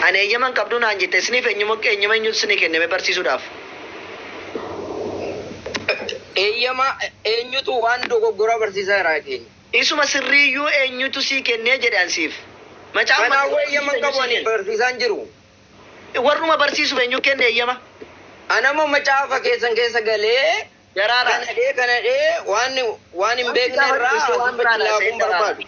Ani eeyyama hin qabdu naan jette. Isiniif eenyuma eenyuma eenyutu isinii kenne mee barsiisuudhaaf? Eeyyama eenyutu waan dogoggoraa barsiisaa jira keenya? Isuma sirrii iyyuu eenyutu sii kennee jedhe an siif? Macaafa Kanaafuu maccaafa eeyyama hin barsiisuuf qabu eenyu sii ani kenne? barsiisaa hin jiru. Warruma barsiisuuf eenyu kenne eeyyama? Ana immoo macaafa keessan keessa galee Daraaraa. kana dhee kana dhee waan waan hin Waan beekne kitaaba irraa dubbistee waan asitti biraan haasa'e laaquun daraaraa. barbaadu.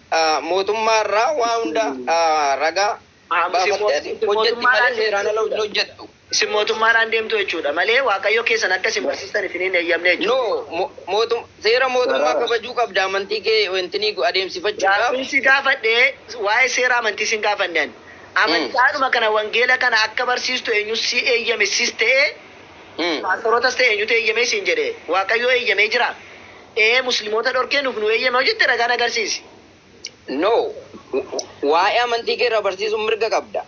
mootummaa irraa waa hunda ragaa baafattee ati hojjetti malee seeraan ala hin hojjettu. Isin mootummaadhaan deemtu jechuudha malee Waaqayyo keessan akka isin barsiistan isin hin eeyyamne jechuudha. No, mo- mootum- seera mootummaa Sarara. kabajuu qabda amantii kee wantinii adeemsifachuudhaaf. Gaaffiin si gaafadhe waa'ee seera amantii sin gaafanne ani. Amantaadhuma kana wangeela kana akka barsiistu eenyu si eeyyame sis ta'ee Mm. paastorotas ta'e eenyutu eeyyamee siin jedhe Waaqayyo eeyyamee jira. ee muslimoota dhorkee nuuf nu eeyyame yoo jette ragaan agarsiisi. No. Waa'ee amantii kee irraa barsiisuuf mirga qabda.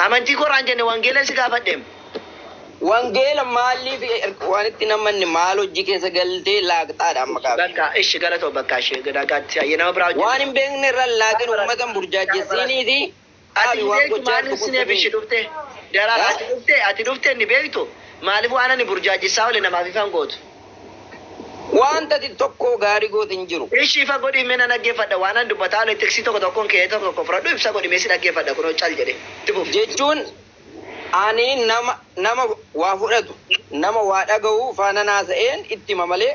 Amantii koo irraa hin jenne wangeelan si gaafadhem. Wangeela maalliif erga waan itti hin amanne maal hojji keessa galtee laaqxaadha amma gaaffiin. Bakka ishi galatoom bakka ishi nagaatti hayyee nama biraa hojjenne. Waan hin beekne irra hin laaqin ummata hin burjaajjessiiniitii Ati ni beektu maarree Sineef ishi dhufte Daraara ati dhufte ati dhufte ni beektu maaliif waan ani burjaajjessaa oole namaaf ifa hin gootu. Waanti ati tokkoo gaarii goote hin jiru. Ishi ifa godhii mee nan dhaggeeffadha waan ani dubbataa oole xiqsii tokko tokkoon keeyee tokko tokko fudhadhu ibsa godhi mee si dhaggeeffadha kunoo cal jedhe itti fufi. Jechuun ani nama nama waa fudhatu nama waa dhagahu faanan haasa'een itti hima malee.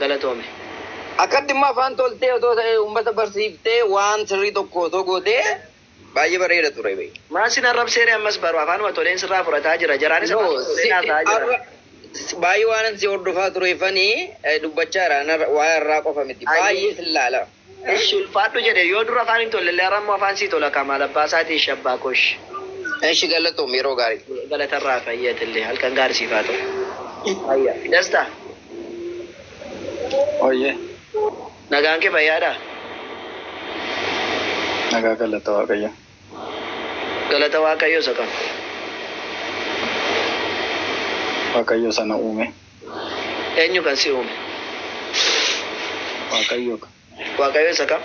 galatoomi. Akkatti immoo afaan toltee otoo ta'ee uummata barsiiftee waan sirrii tokko otoo gootee baay'ee bareeda ture bee. Maal sin arrabsee ree ammas baru afaanuma toleen sirraa fudhataa jira jaraanis No afaanuma toleen si haasa'aa jira. arra si- baay'ee waanan si hordofaa tureefani eh, dubbachaa jira Ana- waa'ee har'aa qofa miti Ayyee. baay'ee sin laala. Eshi ulfaadhu jedhe yoo dur afaan hin tollelle ara immoo afaan sii tola kaa maal abbaa isaati eshi abbaa koo eshi. Eshi gallatoomi yeroo gaarii. Galata irraa hafi hayyee atillee halkan gaari siif haa ta'u. Hayya. Dasta. Wayyee. Nagaan kee fayyaadhaa? Nagaa galata waaqayyo. Galata waaqayyo isa kam? Waaqayyo isa na uume. Eenyu kan si uume? Waaqayyo ka. Waaqayyo isa kam?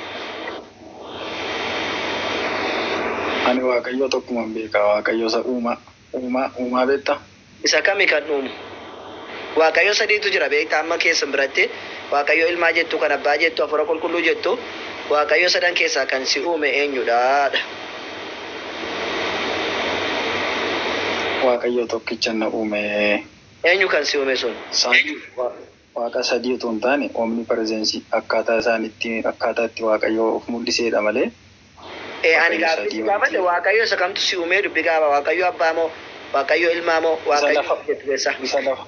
Ani Waaqayyo tokkuman beeka, Waaqayyo isa uumaa. Uumaa, uumaa beekta? Isa kami kan uumu? Waaqayyo sadiitu jira beekta amma keessan biratti Waaqayyo ilmaa jettu, kan abbaa jettu, hafuura qulqulluu jettu, Waaqayyo sadan keessaa kan si uume eenyudha? dha. Waaqayyo tokkichan na uume. Eenyu kan si ume sun? Isaan Waaqa sadii utuu hin taane, omnipresence, akkaataa isaan itti, akkaataa itti Waaqayyoo of mul'isee dha malee, Ee, ani Waaqayyo gaaffii si sadii gaafadhe, miti. Waaqayyo isa kamtu si ume? Dubbi gaaba, Waaqayyo Abbaa moo? Waaqayyo Ilmaa moo? Isa Waaqayyo lafa, ati jettu keessa. isa lafa,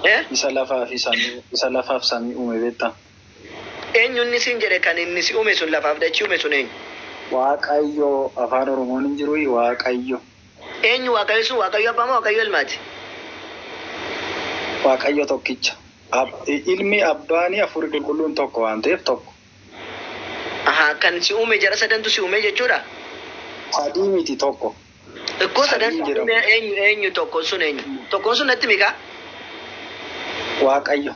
Ee? isa lafaa fi samii, isa lafaa fi samii uume beektaa? Eenyu inni siin jedhe kan inni si ume sun, lafaa fi dachii ume sun eenyu? Waaqayyo, Afaan Oromoon hin jiruuyii? Waaqayyo. Eenyu Waaqayyo sun? Waaqayyo Abbaa moo Waaqayyo Ilmaati? Waaqayyo tokkicha. Ilmi, Abbaani, Hafuurri Qulqulluun tokko waan ta'eef tokko. Ahaa kan si uume jara sadantu si uumee jechuudha? Sadii miti tokko. Ikkoo sadan Sadii jedhamu. uumee eenyu eenyu tokkon sun eenyu? Tokkon sun natti himi kaa? Waaqayyo.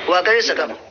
Waaqayyo isa kam? jedhama.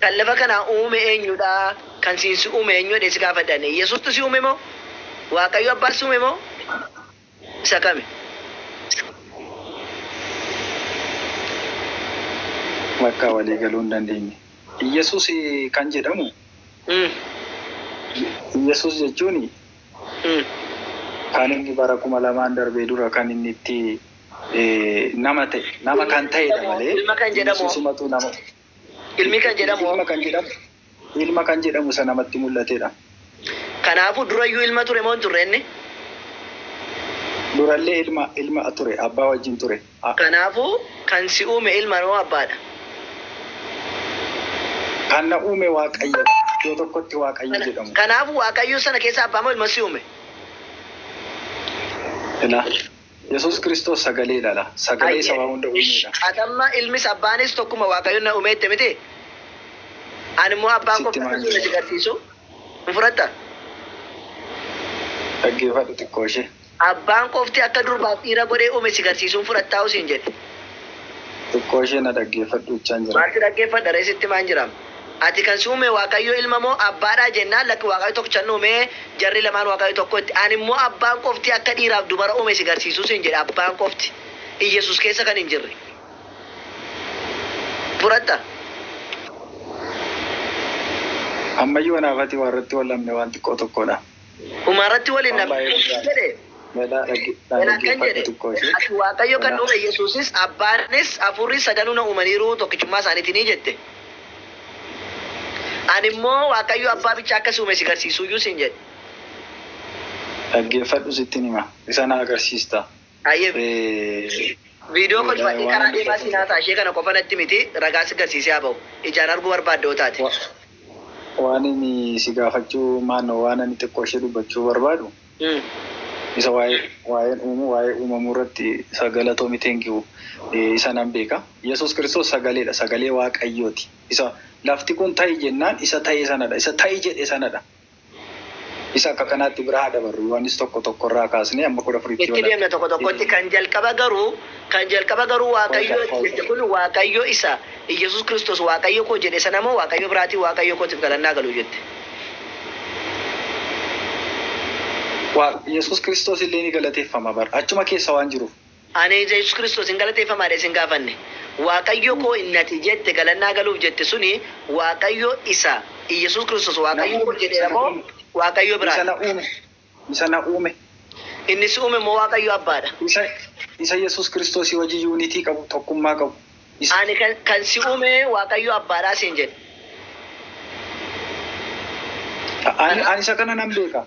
Kan lafa kana uume eenyu dha? Kan siin si uume eenyu jedhee si gaafate Daani'el. Yesuustu si uume moo? Waaqayyo abbaan si uume moo? Isa kami? Bakka walii galuu hin dandeenye. Iyyasuus kan jedhamu Iyyasuus jechuun kan inni bara kuma lamaan darbee dura kan inni itti nama ta'e nama kan ta'edha malee Ilma kan jedhamu hoo? Iyyasuusumatu nama Ilmi kan jedhamu hoo? Ilma kan jedhamu isa namatti mul'atedha. Kanaafuu, durayyuu ilma ture moo hin turre inni? Durallee ilma, ilma ture, abbaa wajjin ture. a. Kanaafuu, kan si uume ilma moo abbaadha? Kan na uume Waaqayyodha. Iddoo tokkotti Waaqayyo jedhamu. Kanaafuu, Waaqayyo sana keessaa abbaa moo ilma si uume? Ila. Yesuus Kiristoos sagalee dha la. Sagalee isa waa hunda uumee dha. Ati amma ilmis abbaanis tokkuma Waaqayyo na ume jette miti? Ani immoo abbaa koo akka si ume si garsiisu hin fudhatta? Dhaggeeffadhu xiqqoo ishee. Abbaan qofti akka durbaaf dhiira godhee ume si garsiisu hin fudhattaa'u siin jedhe. Xiqqoo ishee na dhaggeeffadhu jechaan jira. Maal si dhaggeeffadha ree sitti himaan jiraam. Ati kan si uume Waaqayyo ilma moo abbaadhaa? Jennaan, Lakki Waaqayyo tokkicha nu uumee, jarri lamaan Waaqayyo tokko itti. Ani immoo abbaan qofti akka dhiiraaf dubara uume si garsiisuu siin jedhe, abbaan qofti. Iyyesuus keessa kan hin jirre. Fudhatta? Ammayyuu anaaf ati warratti wal dhabne waan xiqqoo tokkoodha. Dhumarratti waliin na Baay'ee barsiisi guddaadha. jedhe. Melaa dhage- Melaa akkan dhaggeeffadhu jedhe, xiqqoo ishee. Ati Waaqayyo kan Melaa. uume Yesuusis, Abbaanis, Hafuurris sadanuu na uumaniiru, tokkichummaa isaaniitinii jette. Ani immoo Waaqayyo Abbaa bicha akka si uume si garsiisuuyyuu siin jedhe. Dhaggeeffadhu sittin hima. Isa na agarsiista. Hayyee mee viidiyoo kolfadhee karaa deemaa siin haasa'a ishee kana qofa natti miti ragaa si garsiisee haa ba'u ijaan arguu barbaadda yoo taate. Waan ani si gaafachuu maano waan ani xiqqoo ishee dubbachuu barbaadu isa waa'een uumuu waa'ee uumamuu irratti isa galatoomi thank you isa nan beeka yesuus kiristoos sagaleedha sagalee waaqayyooti isa lafti kun ta'i jennaan isa ta'e sanadha isa ta'i jedhe sanadha. Isa akka kanaatti bira haa dabarru. Yohaannis 1, 1 irraa kaasnee hamma 14tti yoo Itti deemna ilaalle. tokko tokkotti. Kan jalqaba garuu, kan jalqaba garuu Waaqayyo itti jette kun Waaqayyo isa Iyyasuus Kiristoos Waaqayyo koo jedhe sana moo Waaqayyo biraatii Waaqayyo kootiif galanni haa galu jette? Wa, Iyyasuus Kiristoos illee ni galateeffama bar. Achuma keessa waan jiruuf. Ani ija Yesus Kristos hin galateeffamaadha isin gaafanne. Waaqayyo koo inni ati jette galannaa galuuf jette suni Waaqayyo isa Iyyasuus Kristos Na Waaqayyo koo uume, isa jedheera na moo uume, Waaqayyo isa biraadha? na uume, isa na uume, Inni si uume moo Waaqayyo abbaadha? isa, isa Yesus Kristosii wajjin unity qabu, tokkummaa qabu, isa. Ani kan, kan si uume Waaqayyo abbaadhaa siin jedhe. Ani, Ana, ani isa kana nan beeka.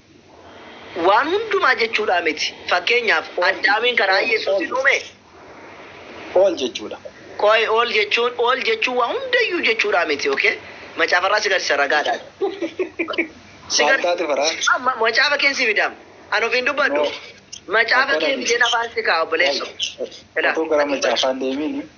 Waan hundumaa jechuudhaa miti. Fakkeenyaaf, Addaamiin karaa Yesuusiin uume. All jechuudha. Qoy, all jechuun, all jechuun waa hundayyuu jechuudhaa miti, ok? Macaafarraa si garsiisa ragaadhaan. Si Maal taate faraa? garsiisa. Ma- ma- Macaafa keen si fidaam. An ofiin dubbadhu. No. Macaafa Akkana kee miti. fideen afaan si kaa obboleesso. Ilaa. Otoo gara macaafaan deemiini.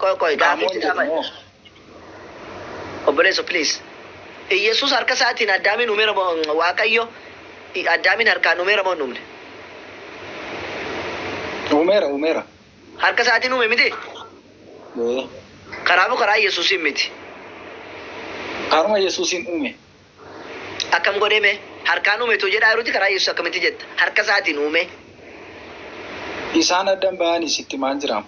Qoy qoy gaafii Qaamoon jedhu moo? obboleessa please. Iyyasuus harka isaatiin addaamiin umeera moo waaqayyo addaamiin harkaan umeera moo hin umne? Uumeera uumeera. Harka isaatiin uume miti? Ee, Karaa moo karaa Iyyasuusiin miti? Karuma Yesuusiin uume. Akkam godhee mee? Harkaan uume too jedhaa jiruti karaa Yesus akkamitti jetta? Harka isaatiin uumee. Isaan addan bahani sitti maal jiraam.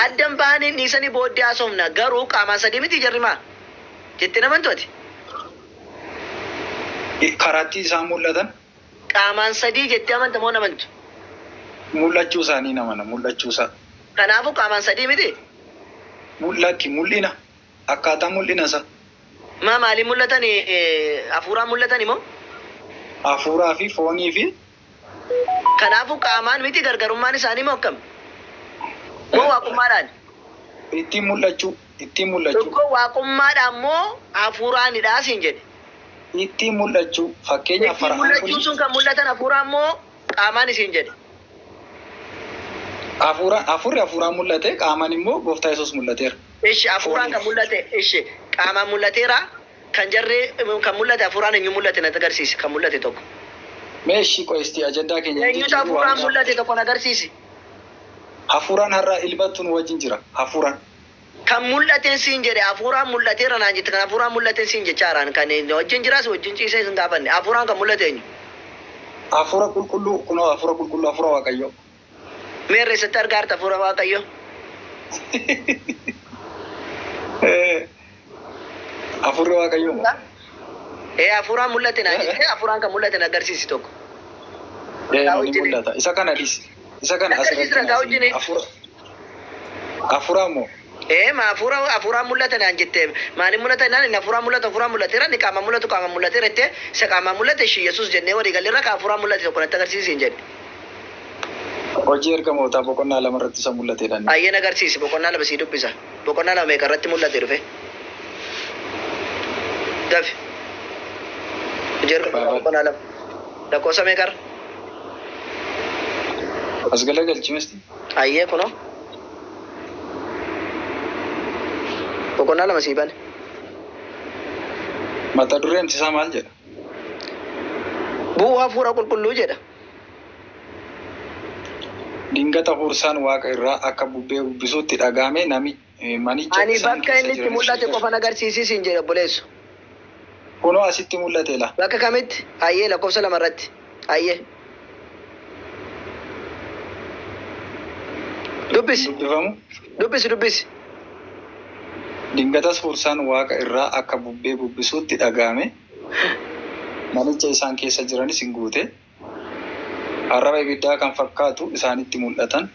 Addan bahani hin dhiisani booddee haasofna garuu qaamaan sadii mitii jarri maa? Jettee hin amantu ati? Karaatti isaan mul'atan. Qaamaan sadii jettee amanta moo hin amantu? Mul'achuu isaanii hin amana mul'achuu isaa. Kanaafuu qaamaan sadii mitii? Lakki mul'ina. Akkaataa mul'ina isaa. Maa maaliin mul'atani? Hafuuraan mul'atani moo? Hafuuraa fi foonii fi. Kanaafuu qaamaan miti gargarummaan isaanii moo akkam? Moo waaqummaadhaani? Ittiin mul'achuu, ittiin mul'achuu. Tokko waaqummaadhaan moo hafuuraanidha siin jedhe. Ittiin mul'achuu, fakkeenyaaf Ittiin fara'aan mul'achuun kuni. sun kan mul'atan hafuuraan moo qaamaan isiin jedhe. Hafuura, hafuurri hafuuraan mul'ate, qaamaan immoo gooftaa Yesuus mul'ateera. Ishi hafuuraan kan mul'ate ishi qaamaan mul'ateera kan jarree kan mul'ate hafuuraan eenyu mul'ate natti agarsiisi kan mul'ate tokko. Mee ishii qoy istii ajandaa keenya hin Eenyutu jijjiirru waan hafuuraan biraa mul'ate tokko na agarsiisi. Hafuuraan har'a ilmattu nu wajjin jira. Hafuuraan. Kan mul'ateen siin jedhe hafuuraan mul'ateera naan jette kan hafuuraan mul'ateen siin jechaaraan kan na wajjin jiraa si wajjin ciisee sin gaafanne hafuuraan kan mul'ate eenyu? Hafuura qulqulluu kunoo hafuura qulqulluu hafuura waaqayyoo. Meerre eessatti argaarta hafuura waaqayyoo? Hafuurri waaqayyoo moo? Ee hafuuraan mul'ate naan jette hafuuraan kan mul'ate na agarsiisi tokko. Ee Ragaa ni wajjin mul'ata. Isa kana dhis. Isa kana na agarsiisi asirratti ragaa wajjin. hafuura. Afuraa moo? Ee ma afuura afuuraan mul'ata naan jette maalin mul'ata jennaan inni afuuraan mul'atu afuuraan mul'ateera inni qaamaan mul'atu qaamaan mul'ateera jettee isa qaamaan mul'ate ishi yesus jennee walii galleerra ka afuuraan mul'ate tokko natti agarsiisi siin jedhe. Hojii ergamootaa boqonnaa lama irratti isa mul'ateedha inni. Ayyee nagarsiisi boqonnaa lama sii dubbisa boqonnaa lama meeqa irratti mul'ate dhufe dafi hojii ergamootaa boqonnaa lama lakkoofsa meeqa irra. As galagalchi misti. Hayyee kunoo boqonnaa lama sii bane. Mata dureen isaa maal jedha? Bu'uu hafuura qulqulluu jedha. Dingata huursaan waaqa irraa akka bubbee bubbisuutti dhaga'ame manicha Ani isaan bakka keessa inni itti jiranis mul'ate beekatu. qofan agarsiisi siin jedhe obboleesso. Kunoo asitti mul'ate la. Bakka kamitti? Hayyee lakkoofsa lama irratti. Hayyee. Hin Dubbisi. dubbifamu. Dubbisi dubbisi. Dingatas huursaan waaqa irraa akka bubbee bubbisuutti dhaga'ame, manicha isaan keessa jiranis in guute. Arraba ibiddaa kan fakkaatu isaanitti mul'atan.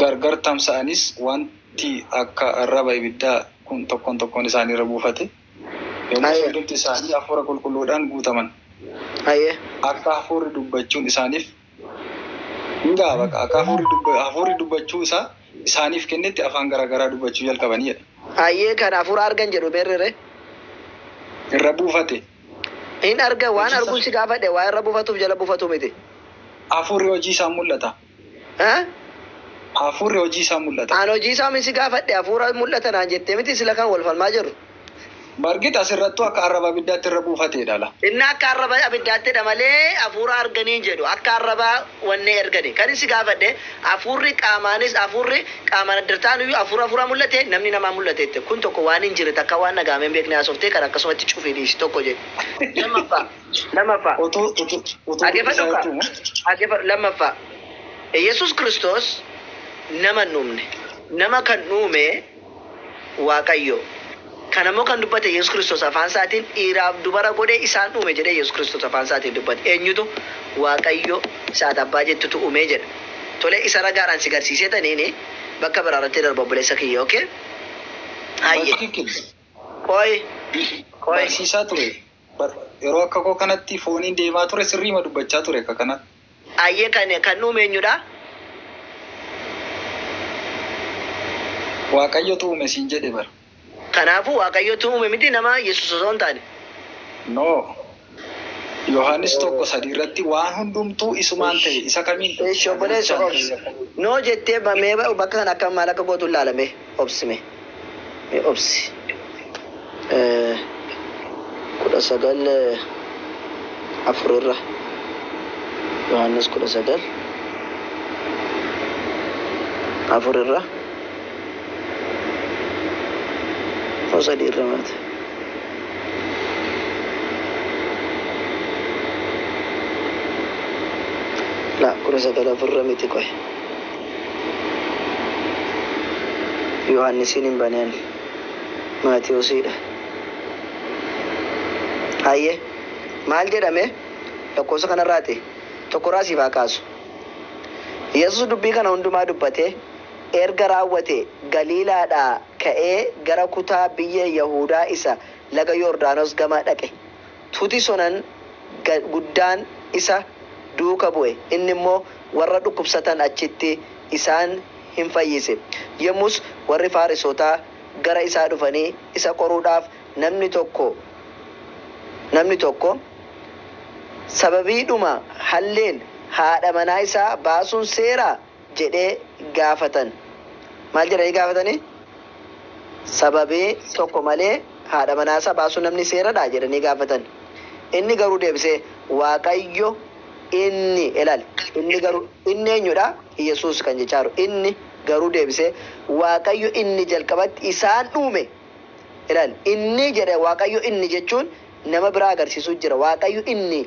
Gargar tamsa'anis wanti akka arraba ibiddaa kun tokkoon tokkoon isaanii irra buufate. Yommus Aye. hundumti isaanii hafuura qulqulluudhaan guutaman. Aye. Akka hafuurri dubbachuun isaaniif Egaa bakka akka hafuurri dubba- hafuurri dubbachuu isaa isaaniif kennetti afaan garaa garaa dubbachuu jalqabanii jedha. Hayyee kan hafuura argan jedhu meerrere? Irra buufate. Hin argan waan Hojii isaa- arguu si gaafadhe waa irra buufatuuf jala buufatu miti. Hafuurri hojii isaa mul'ata. Ha? Hafuurri hojii isaa mul'ata. Aan hojii isaa min si gaafadhe hafuura mul'ata naan jettee miti sila kan wal falmaa jirru. Bargit asirrattuu akka arraba abiddaatti irra buufateedha la. Inni akka arraba abiddaattidha malee afuura arganii hin jedhu. Akka arraba wannee ergani. Kanin si gaafadhe afuurri qaamaanis afuurri qaamaan addar ta'anuyyuu afuura afuuraan mul'ate namni namaan mul'ate jette. Kun tokko waan hin jirre takkaa waan dhaga'amee hin beekne haasoftee kana akkasumatti cufii dhiisi tokko jedhi. Lammaffaa lammaffaa Utuu utuu utuu dhaggeeffadhu dubbisaa kaa jechuun dhaggeeffadhu lammaffaa Yesuus Kiristoos nama hin uumne. Nama kan uume Waaqayyo. Kana immoo kan dubbate Yesus Kristos afaan isaatiin, Dhiiraaf dubara godhee isaan uume jedhee Yesus Kristos afaan isaatiin dubbate. Eenyutu? Waaqayyo isa ati abbaa jettutu uumee jedha. Tole isa ragaadhaan si garsiiseetaniin bakka biraa irratti darba obboleessa kiyya okay? Hayyee. Batikil. Qoyi. Qoyi. Barsiisaa ture. Bar yeroo akka koo kanatti fooniin deemaa ture sirriima dubbachaa ture akka kana. Ayyee kan kan nu uume eenyudha? Waaqayyotu uume siin jedhe bar. Kanaafuu Waaqayyotu uume miti nama Yesuus osoo hin taane. No. Yohaannis 1 3 irratti waan hundumtuu isumaan ta'e isa kamiin? Eesh obboleessa Goobs. No jettee mee bakka kana akka maal akka gootu hin laala mee. obsi me me obsi kudha sagal afur irra yohannis kudha sagal afur irra moo sadii irra maata la kudha sagal afur irra miti qoy Yohaannisiin hin bane ani. Maatewosiidha. Hayyee. Maal jedhame? Lakkoofsa kanarraati. Tokkorraa siif haa kaasu. Yesus dubbii kana hundumaa dubbatee erga raawwatee Galiilaadhaa ka'ee gara kutaa biyya Yahuudaa isa laga Yordaanos gama dhaqe. Tuti sonan guddaan isa duuka bu'e, inni immoo warra dhukkubsatan achitti isaan in fayyise. Yommus warri Faarisootaa gara isaa dhufanii isa qoruudhaaf, Namni tokko, namni tokko sababiidhuma halleen haadha manaa isaa baasuun seeraa? jedhee gaafatan. Maal jedhanii gaafatani? Sababii tokko malee haadha manaasaa baasuun namni seeradhaa? jedhanii gaafatan. Inni garuu deebisee, Waaqayyo inni, ilaali, inni garuu, inni eenyudha? Yesuus kan jechaa jiru. Inni garuu deebisee, Waaqayyo inni jalqabatti isaan dhuume, ilaali, inni jedhe Waaqayyo inni jechuun nama biraa agarsiisuu jira. Waaqayyo inni.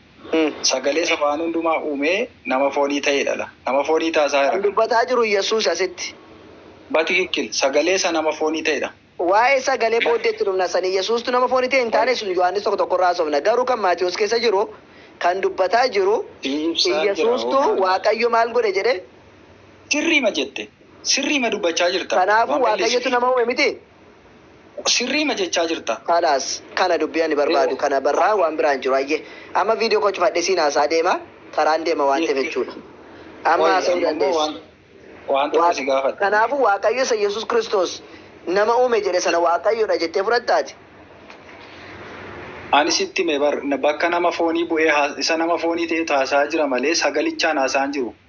Sagaleesa waan hundumaa uumee nama foonii ta'ee dhala. Nama foonii taasaa Kan dubbataa jiru Yesuus asitti. Batikikkil. Sagalee isa nama foonii ta'e dha. Waa'ee sagalee booddee itti dhufna. Sani Yesuustu nama foonii ta'e hin taane sun Yohaannis 1 1 irraa haasofna. Garuu kan Maatiwoos keessa jiru kan dubbataa jiru Iyyasuustu Waaqayyo maal godhe jedhe? Sirriima jette. Sirriima dubbachaa jirta. Kanaafuu Waaqayyotu nama uume mitii? Sirriima jechaa jirta. Khalas kana dubbi ani barbaadu kana barraa waan biraa hin jiru hayyee amma video koo cufadhe isiin haasa'a deema karaan deema waan ta'eef jechuudha amma haasa'uu dandeessu kanaafu waaqayyo isa yesus kiristoos nama uume jedhe sana waaqayyodha jettee fudhatta ati Ani sitti hime bar bakka nama foonii bu'ee isa nama foonii ta'etu haasa'aa jira malee sagalichaan haasa'aa hin jiru.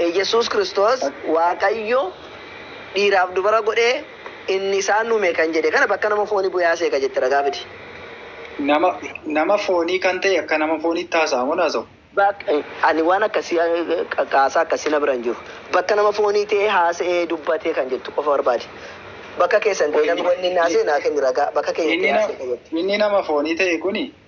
Iyyasuus Kiristoos Waaqayyo dhiiraaf dubara godhee inni isaan uume kan jedhe kana bakka nama fooni bu'ee haasa'e ka jette ragaa fidi. Nama nama foonii kan ta'e akka nama fooniitti haasa'a moo hin haasa'u? Bak ani waan akkasii kaasaa akkasii na bira hin jiru. Bakka nama foonii ta'ee haasa'ee dubbatee kan jettu qofa barbaadi. Bakka keessan ta'ee namni wanni inni haasa'e naa kenni ragaa bakka keenya ta'ee Inni na haasa'e ka jette. inni nama foonii ta'e kuni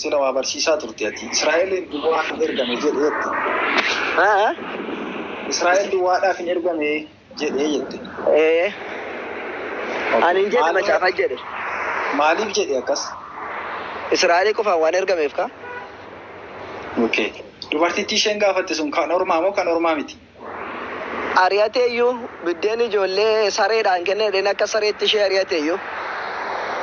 Sila waa barsiisaa turte ati. Israa'eliin duwwaaf hin ergame jedhe jette. Haa? Israa'el duwwaadhaaf hin ergame jedhe jette. Ee. Ani hin jedhe Maaloo- macaafa jedhe. Maaliif jedhe akkas? Israa'elii qofaan waan ergameef kaa. Okay. Dubartittii isheen gaafatte sun kan ormaa moo kan ormaa miti? ari'ate iyyuu, biddeen ijoollee sareedhaan kenne jedheen akka sareetti ishee ari'ate iyyuu.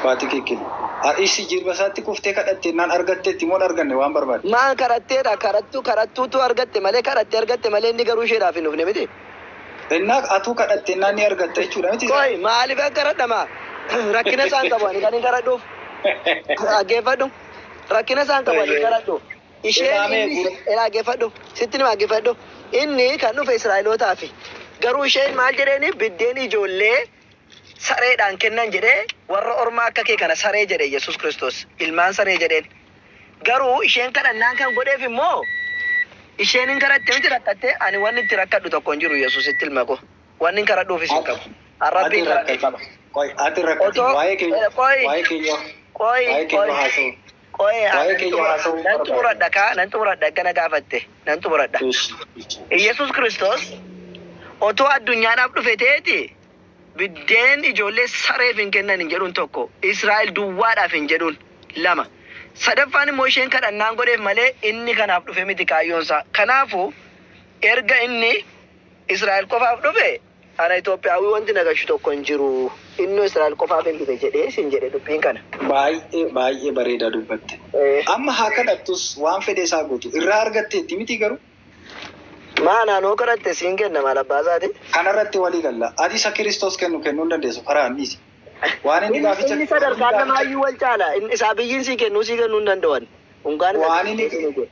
Batikikkil. A. Ishii jirba isaatti kuftee kadhatte jennaan argatteetti moo dharganne waan barbaadde? M. Kadhatteedha, kadhattu, kadhattuutu argatte malee, kadhatte argatte malee inni garuu isheedhaaf hin dhufne miti. N. Atuu kadhatte jennaan ni argatta jechuudha miti isaa? Qoy, maaliifan kadhadha maa? Rakkina isaan qabu ani kanin kadhadhuuf? Dhaggeeffadhu. Rakkina isaan qabu ani hin kadhadhu. Isheen inni Ee dhaggeeffadhu, sittin hima dhaggeeffadhu. Inni kan dhufe Israa'elootaafi. Garuu isheen maal jedheeni biddeen ijoollee sareedhaan kennan jedhee warra ormaa akka kee kana saree jedhe Yesuus Kiristoos. Ilmaan saree jedheen. Garuu isheen kadhannaan kan godheef immoo isheen hin kadhatte miti rakkatte ani wanni itti rakkadhu tokko hin jiru Yesuusitti ilma koo. Wanni hin kadhadhuufis hin qabu. An Rabbiin kadhadhe qaba. Qoy ati hin rakkatin. Otoo Waa'ee keenya qoy waa'ee keenya qoy waa'ee keenya qoy haasa'u. Qo'ee haa Waa'ee nan kiyya xumura- haasa'uu nan barbaadu. xumuradha kaa nan xumuradha akka na gaafatte nan xumuradha. Ishi. Iyyasuus Kiristoos otoo addunyaadhaaf dhufe ta'eeti biddeen ijoollee sareef hin kennan hin jedhuun tokko Israa'el duwwaadhaaf hin jedhuun lama. Sadaffaan immoo isheen kadhannaan godheef malee inni kanaaf dhufe miti kaayyoonsaa. Kanaafuu erga inni Israa'el qofaaf dhufe Ana Itoophiyaawwii wanti na gashu tokko hin jiru. Innoo Israa'el qofaafin dhufe jedhee sin jedhe dubbiin kana. Baay'ee baay'ee bareedaa dubbatte. Amma haa kadhattus waan fedha isaa guutu irraa argatteetti mitii garuu? Maa anaan hoo kadhatte siin kenna maal abbaa isaati? Kana irratti walii galla. Ati isa Kiristoos kennu kennuu hin dandeessu faraa hin dhiisi. Waan inni gaaficha Inni sadarkaan namaayyuu wal caala. Inni isaa biyyiin sii kennuu sii kennuu hin danda'u ani. Unkaan isa Waan inni Kiristoos hin jedhu.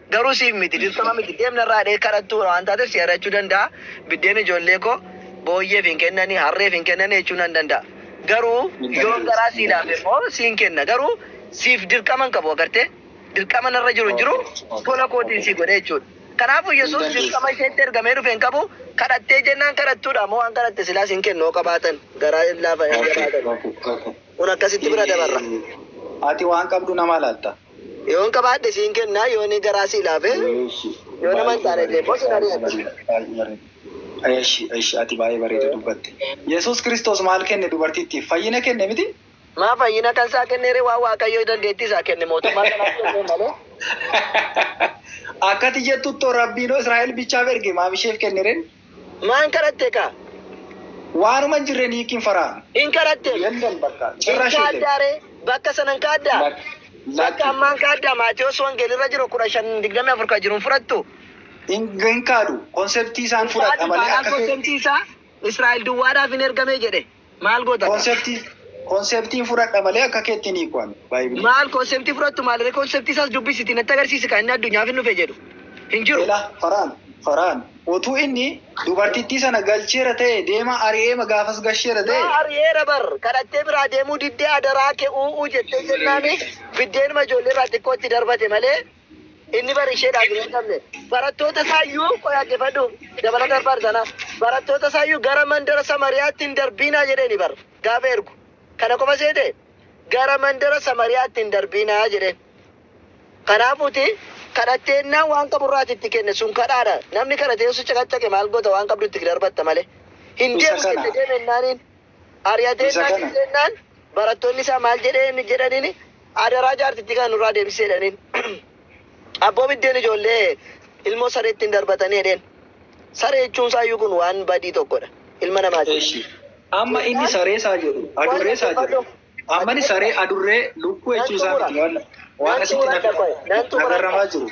Garuu siif miti, dirqama miti. Deem narraa jedhee kadhattuu waan taateef si ari'achuu danda'a. Biddeen ijoollee koo booyyeef hin kennani, harreef hin kennani jechuu nan danda'a. Garuu yoon garaa sii laafe immoo siin kenna. Garuu siif dirqama hin qabu, agartee? Dirqama narra jiru hin jiru, tola kootiin sii godhe jechuudha. Kanaafuu Yesuus dirqama isheetti ergamee dhufe hin qabu, kadhattee jennaan kadhattuudha moo waan kadhatte silaa siin kennu yoo qabaatan, garaa hin laafan, hin jabaatan. Kun akkasitti bira dabarra. Ati waan qabdu namaa laatta. Yoon qabaadhe siin kenna, yoon garaa sii laafe, yoo nama hin taane illee immoo sin ari'adha. Eshi eshi ati baay'ee bareeda dubbatte. Yesuus Kiristoos maal kenne dubartittiif? Fayyina kenne miti? Maa fayyina kan isaa kennee ree? Waan Waaqayyo dandeettii isaa kenne mootummaa kanaaf kennee malee. Akkati jettuttoo Rabbiinoo Israa'el bichaaf erge maaf isheef kenne ree? Maan kadhatte kaa? Waanuma hin jirre niikki hin faraanu. Hin kadhatteem? Yellam bakka. Hin Cirrash hin ta'e. kaaddaa ree? Bakka sana hin kaaddaa? Lak- Bakka Lakki. ammaa hin kaaddaa? Maatewos Wangel irra jiru 15:24 ka jiru hin fudhattu? Hin hin kaadu. Konseptii isaan Hin fudhadha kaadu malee taanaan akka kee. konseptii isaa Israa'el duwwaadhaaf hin ergamee jedhe. Maal goota kaa? Conceptii Conceptiin fudhadha malee akka keetti hin hiiku ani baay'ee. Maal konseptii fudhattu maaliree konseptii isaas dubbisiti natti agarsiisi kan inni addunyaaf hin dhufe jedhu hin jiru. Ela faraan faraan otuu inni dubartittii sana galcheera ta'e deemaa ari'eema gaafas gasheera ta'e. Yaa ari'eera bar kadhattee biraa deemuu diddee adaraa kee u'uu jettee jennaani biddeenuma ijoollee irraa xiqqoo itti darbate malee. Inni bar isheedhaaf hin hidhamne. Barattoota isaa iyyuu qoy dhaggeeffadhu dabalata barbaadu sana barattoota isaa iyyuu gara mandara Samariyaatti hin darbiinaa jedheeni bar gaafa ergu. Kana qofa seete gara mandara Samariyaatti hin darbiinaa jedheen. Kanaafuuti kadhatteennaan waan qaburraati itti kenne sun kadhaadha. Namni kadhatee osoo caqacaqe maal goota waan qabdu itti darbatta malee. Hin Isa deemu kana. jette deeme ennaaniin. Ari'atee Isa innaa kana- ciise jennaan barattoonni isaa maal jedhee inni jedhaniin adaraa jaartittii kana nurraa deebisee jedhaniin. Abboo biddeen ijoollee ilmoo sareetti hin darbatanii jedheen. Saree jechuun isaayyuu kun waan badii tokkodha. Ilma namaati. Eshi. Amma inni saree isaa jedhu, adurree isaa jedhu. Amma inni saree, adurree, lukkuu jechuu isaa miti waan waan asitti na- nagarramaa jiru.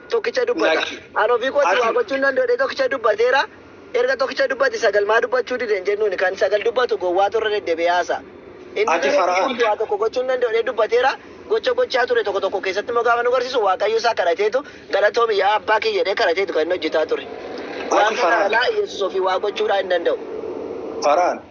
tokkicha dubbata. Lakki. An ofii kootii waa Ati. gochuu hin danda'u jedhee tokkicha dubbateera. Erga tokkicha dubbate sagal maa dubbachuu dide hin jennuuni. Kan sagal dubbatu gowwaatu irra deddebi'ee haasa'a. Inni Ati garuu ofii Fara'oon. kootii waa tokko gochuu hin danda'u jedhee dubbateera. Gocha gochaa ture tokko tokko keessatti immoo gaafa nu garsiisu Waaqayyo isaa kadhateetu galatoomi yaa abbaa kiyya jedhee kadhateetu kan inni hojjetaa ture. Waan kana Fara'oon. kanaa Yesuus ofii waa gochuudhaa hin danda'u. Fara'oon.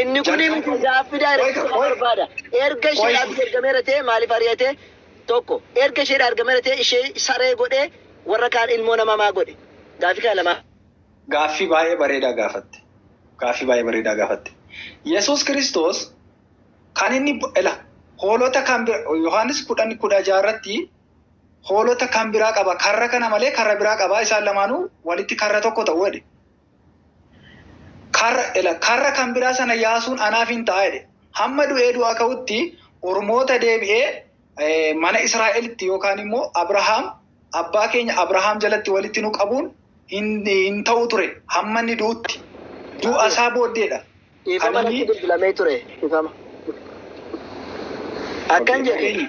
Inni kun Jalqaba- miti gaaffii daayireektii Wayita- qofa barbaada. Erga ishee Wayita- dhaabbii ergameera ta'e maaliif ari'ate? Tokko erga ishee dhaargameera ta'e ishee saree godhee warra kaan ilmoo namaa maa godhe? Gaaffii kana lamaa. Gaaffii baay'ee bareedaa gaafatte. Gaaffii baay'ee bareedaa gaafatte. Yesuus Kiristoos kan inni ila hoolota kan bira Yohaannis kudhan kudha ja'a irratti hoolota kan biraa qaba karra kana malee karra biraa qaba isaan lamaanuu walitti karra tokko ta'u jedhe. Karra, ela, karra kan biraa sana yaasuun anaaf in ta'a jedhe. Hamma du'ee du'aa ka'utti ormoota deebi'ee eh, mana Israa'elitti yookaan immoo Abrahaam abbaa keenya Abrahaam jalatti walitti nu qabuun hin, hin ta'u ture hamma inni du'utti. Du'a isaa booddeedha. Kan Dhiifama inni natti bilbilamee ture. Dhiifama. Akkan jedhe. Keenya.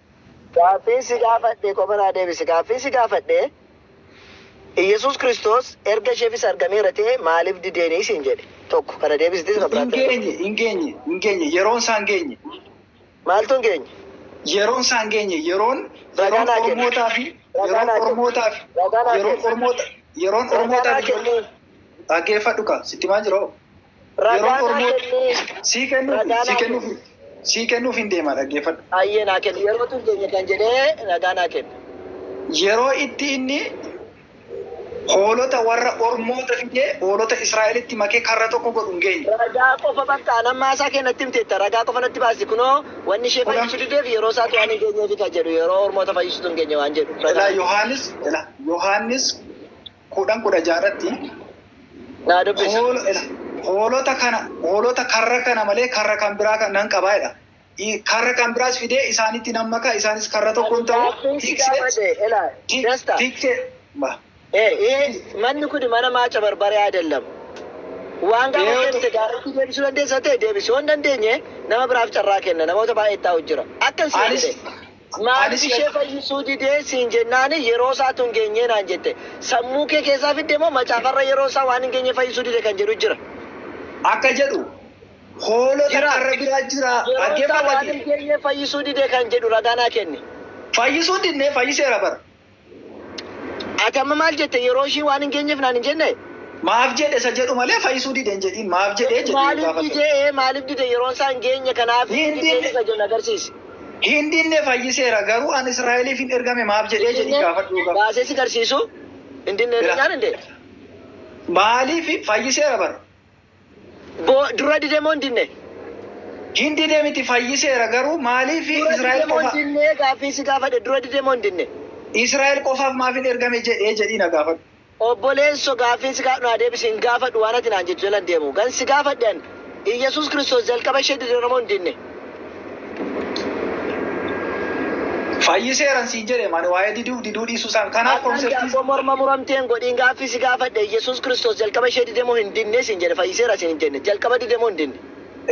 Gaaffiin si gaafadhe qofa naa deebisi. Gaaffiin si gaafadhe Iyyasuus Kiristoos erga isheefis argameera ta'e maaliif dideeni siin jedhe? Tokko kana deebisiti isa kan biraatti na deebisi. Hin geenye, hin geenye, hin geenye. Yeroon isaa hin geenye. Maaltu hin geenye? Yeroon isaa hin geenye. Yeroon, Ragaa yeroon naa kenni. Ormootaa fi Ragaa yeroon naa kenni. Ormootaa fi Ragaa naa yeroon kenni. Ormoota, yeroon Ragaa Ormootaa naa fi kenni. ijoollee. Dhaggeeffadhu kaa, sitti himaa jira hoo. Ragaa Yeroon naa Oromoo kennii. sii kennuuf Ragaa naa sii kennuuf kenni. sii kennuuf hin deema dhaggeeffadhu. Ayyee naa kenni. Yeroo tun keenya kan jedhee ragaa naa kenni. Yeroo itti inni hoolota warra ormoota fidee hoolota Israa'elitti makee karra tokko godhu hin geenye. Ragaa qofa bakka an ammaa isaa kee natti himteetta. Ragaa qofa natti baasi. Kunoo wanni ishee Kudha- fayyisuu dideef yeroo isaatti waan hin geenyeefi kan jedhu yeroo ormoota fayyisuutu hin geenye waan jedhu. Ilaa Yohaannis ilaa Yohaannis kudhan kudha ja'a irratti Naa dubbisi. hoolo- ila- hoolota kana hoolota karra kana malee karra kan biraa kan nan qabaa jedha. I- Karra kan biraas fidee isaanitti nan maka isaanis karra tokkoon ta'u Gaaffiin si gaafadhe ilaa dasta. tiksee Eh, eh, manni kun mana maaca barbaree adellamu. Waan gaafa Yoo- deebise gaariitti deebisuu dandeessa ta'e deebisuu hin dandeenye nama biraaf carraa kenna namoota baay'ee taa'u jira. Akkan si anis jedhe Maaliif ishee fayyisuu dide siin jennaani yeroo isaatu hin geenyee naan jette. Sammuu kee keessaa fidde moo macaafarra yeroo isaa waan hin geenye fayyisuu dide kan jedhu jira? Akka jedhu hoolota Jira. karra biraa jira. Yeroo isaa waan Dhaggeeffadhati. hin geenye fayyisuu dide kan jedhu ragaa naa kenni. Fayyisuu hin didne fayyiseera bar. Ati amma maal jette yeroo ishii waan hin geenyeef naan hin jenne? Maaf jedhe isa jedhu malee fayyisuu dide hin jedhiin. Maaf jedhe jedhee yoo Maaliif gaafate. dide ee maaliif dide yeroon isaa hin geenye kanaaf Hin hin dideen dinne. isa jedhu agarsiisi. Hin dinne fayyiseera garuu an Israa'eliif hin ergame maaf jedhee Hin jedhii dinne gaafadhu yoo gaafate. baasee si garsiisu hin dinne Bira. jennaan hin dee. Maaliif fayyiseera bara. Bo, Dura dide moo hin dinne? Hin dide miti fayyiseera garuu maaliif Dura dide Israa'el moo hin qofa dinne gaaffiin si gaafadhe dura dide moo hin dinne? Israa'el qofaaf maaf hin ergame jedhee jedhii na gaafadhu. Obboleesso gaaffiin si gaafadhu naa deebisi hin gaafadhu waan ati naan jettu jala hin deemu. Kan si gaafadhe ani Iyyasuus Kiristoos jalqaba ishee dideera moo hin dinne? Fayyiseeran siin jedhe ani waa'ee diduuf diduu dhiisuu isaan kanaaf Har'aan konseptii daabboo morma muramtee hin godhiin gaaffii si gaafadhe Iyyasuus Kiristoos jalqaba ishee dide moo hin didne siin jedhe fayyiseera siin hin jenne jalqaba dide moo hin didne?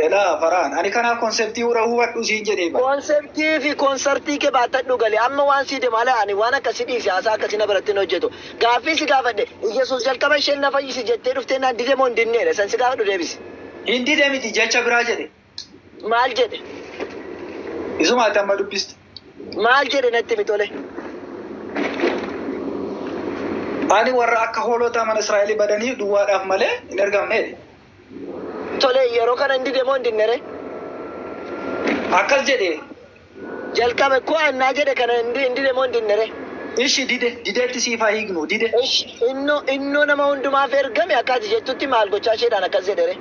Elaa faraan ani kanaaf konseptii hura hubadhu siin jedhee bar. Konseptii fi konsartii kee baattadhu gali amma waan sii demu ala ani waan akkasii dhiisi haasaa akkasii na biratti hin hojjetu gaaffii si gaafadhe Iyyasuus jalqaba isheen na fayyisi jettee dhufteennaan dide moo hin didneedha isan si gaafadhu deebisi. Hin dide miti jecha biraa jedhe. Maal jedhe? Isuma ati amma dubbiste. Maal jedhe natti himi tole? Ani warra akka hoolota mana Israa'elii badanii duwwaadhaaf malee hin ergamne jedhe. Tole yeroo kana hin dide moo hin dinne ree? Akkas jedhe jalqabe koan naa jedhe kana hin dide moo hin dinne ree. Ishi dide didetti siif haa hiiknu dide. Esh inno inno nama hundumaaf ergame akka ati jettutti maal gochaa isheedhaan akkas jedhe ree.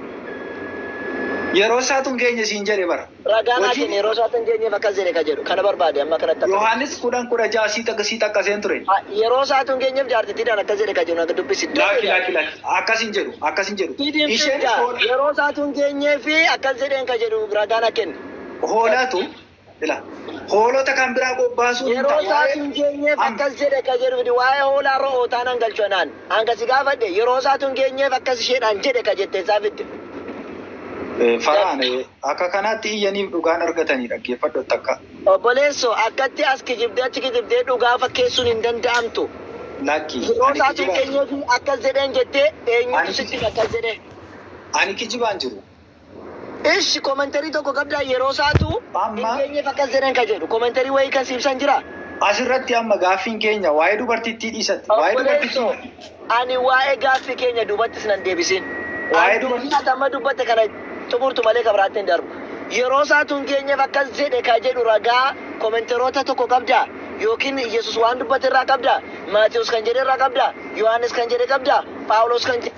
Yeroo isaatu hin geenye siin jedhe bar. Ragaa naa Hojii. kenni yeroo isaatu hin geenyeef akkas jedhe ka jedhu kana barbaade amma kanatti akka. Yohaannis 10 16 sii xaq sii xaqqaseen ture. A, Yeroo isaatu hin geenyeef jaartittiidhaan akkas jedhe ka jedhu na dubbisi iddoo Laakki laakki jedhaati. laakki akkas hin jedhu akkas hin jedhu Didin isheen firdaa foon. yeroo isaatu hin geenyeef akkas jedheen ka jedhu ragaa na kenni. hoolaatu ila hoolota kan biraa bobbaasuu hin Yeroo ta'a. isaas Waa'ee- hin geenyeef Am- akkas jedhe akka jedhu fidi waa'ee hoolaa ro'ootaa nan galchu anaan. Hanga si gaafadhe yeroo isaatu hin geenyeef akkas isheedhaan jedhe ka jette isaa fidde. Eh, Faraan eh, akka kanaatti iyyaniif dhugaan argatanii dhaggeeffadhu takka. Obboleesso akkatti as kijibdee achi kijibdee dhugaa fakkeessuun hin danda'amtu. Lakki. Yeroo ani isaatu hin kijibaan- geenyeef akkas jedheen jettee eenyutu Ani- sitti akkas jedhe. Ani kijibaan jiru. Ish commentary tokko qabdaa yeroo saatu Amma- hin geenyeef akkas jedhan ka jedhu commentary wayii kan siibsan jira? As irratti amma gaaffiin keenya waa'ee dubartittii dhiisatti. Waa'ee Obboleessoo, dubartittii. ani waa'ee gaaffii keenya duubattis nan deebisin. Waa'ee Ani dubar- dubbii ati amma dubbatte kana xumurtu malee kan biraatti hin darbu. Yeroo isaatu hin geenyeef akkas jedhe ka jedhu ragaa komenteroota tokko qabdaa? Yookiin Yesus waan dubbate irraa qabdaa? Maatiyus kan jedhe irraa qabdaa? Yohaannis kan jedhe qabdaa? Phaawulos kan jedhe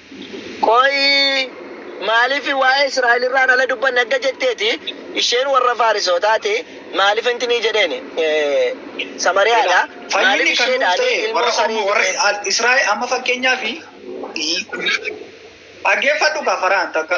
Qoy maalifi waa'ee Israa'el irraa hin ala dubbanne akka jetteeti, isheen warra Faarisootaati, maaliif intinii jedheeni, Samariyaa Ilaa, dha, fayyinni maaliif kan nuuf isheedhaani ta'e ilmoo warra Ormoo, sanii warra jedheen. Al- Israa'el, amma fakkeenyaaf, dhaggeeffadhu kaa faraan takka.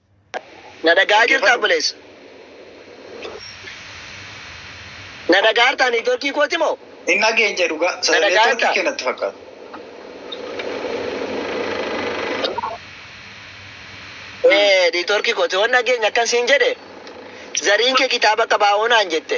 Na dhaga'aa jirtaa obboleessa? Na dhaga'aartaa niitoorkii kooti moo? Hin dhageenye dhugaa. Na Neetworkii dhaga'aartaa? kee natti fakkaata. Ee, niitoorkii kooti. Waan dhageenya akkan siin jedhe, zariin kee kitaaba qaba hoo naan jette.